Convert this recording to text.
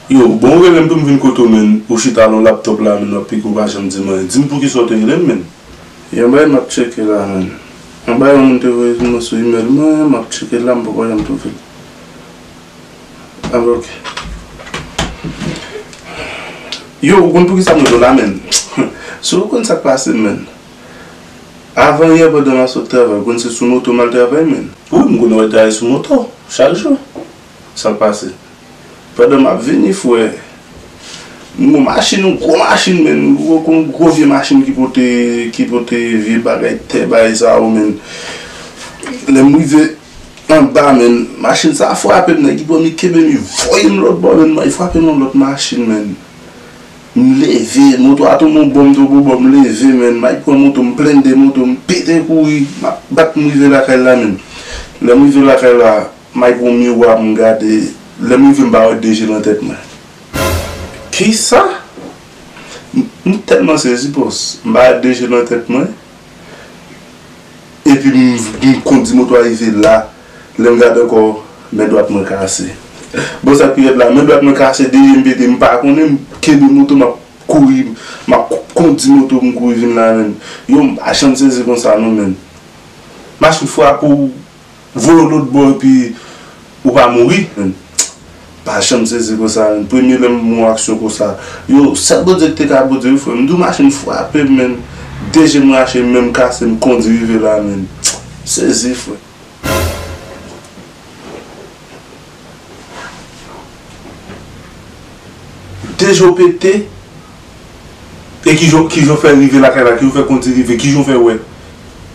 Yo, bon ou relem poum vin kote w menn, ou chita lon laptop la menn wap pike ou pa janm dim anyen, dim poukisa w te relem menn? Yon bagay map tcheke la menn. Mwen bay yon moun te voye pou mwen sou email mwen map tcheke la m poko janm twouvel ah ok Yo ou konn poukisa m rele w la menn si w konn sak pase m menn avan yè pandan map sot travay ou konn se sou moto mal travay menn. Wi m konnen wap travay sou moto chak jou. Sak pase pandan map vini fwe nou gon machin yon gwo machin menn yon gwo vye machin ki pote ki pote vye bagay tè bay sa yo menn lèm rive anba menn machin sa fwapem nèg ki pranm li kenbem li voyem lòt bò menn li fwapem yon lòt machin menn m leve moto a tonbe yon bò m tonbe yon bò m leve menn may pran moto m blende moto m pete kouri map bat m rive lakay la menn lèm rive lakay la. Mike gon miwa m gade lèm rive m pa wè de je nan tèt mwen kisa m tèlman sezi pos m pa wè de je nan tèt mwen epi m kondi moto a rive la lèm gade ankò men dwat mwen kase bon sak pi rèd la men dwat mwen kase de jem pete m pa konnen m kenbe moto map kouri map kondi moto m kouri vin la menm yo m pa janm sezi konsa non menn machine frape w. Voye w lôt bò epi ou pa mouri. M pa janm sezi konsa menm premye lè m wè yon aksyon konsa yo sèl Bondye ki te ka Bondye wi frè m di w machin frape m menm de je m rache men m kase m kondi rive la menm m sezi frè. De je w pete e kijan w fè rive lakay la kijan w fè kondi rive kijan w fè wè.